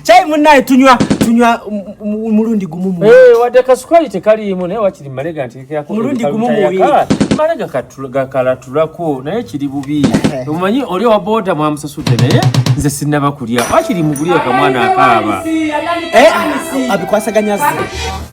Chai munaye tunywa tunywa mulundi gumu mu. Eh wade kasukali tekali yimo naye wakiri malega nti kya ko. Mulundi gumu mu wi. Malega katula kala tulako naye kiri bubi. Umanyi eh. oli wa boda mwa msasude naye nze sinaba kulya. Wakiri mugulia kwa mwana akaba. Eh abikwasaganya zi.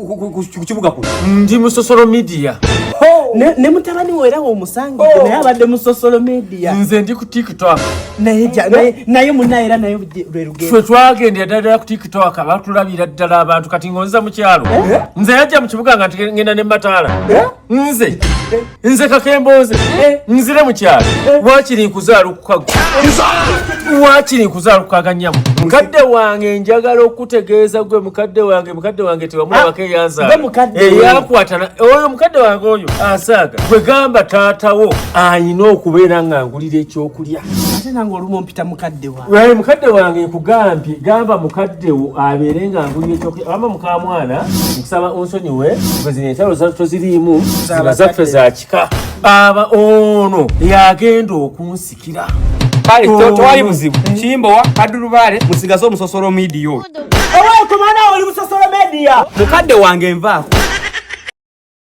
ku kibuga kuno ndi mu sosolo media ne mutabani wo era womusanga oh. naye abadde mu sosolo media nze ndi ku tiktok naye munaye era naye lwerugendfe twagendera ddala ku tiktok batulabira ddala abantu kati ngonza mu kyalo eh? nze yajja mu kibuga nga ngenda ne mataala eh? nze nze kakembooze eh, nzire mu kyalo eh, waakiri nkuzaala okukago waakiri nkuzaala okukaga nyamu mukadde wange njagala okutegeeza gwe mukadde wange mukadde wange tewamulabako ah, eyanzaalaeyakwatana eh, oyo mukadde wange oyo asaaga gwe gamba taatawo ayina okubeera nga ngulira ekyokulya ate nange olumu mpita mukaddewo Wali mukadde wange nkugambye gamba mukadde wo abeere nga nguye kyoke ama mukamwana nkusaba onsonyiwe kwezina entalo toziriimu ziba zaffe za kika baaba ono yagenda okunsikira kale tewali buzibu kimbowa kadulubaale musigaze omusosolo midiyo owekumana oli musosolo media mukadde wange nvaako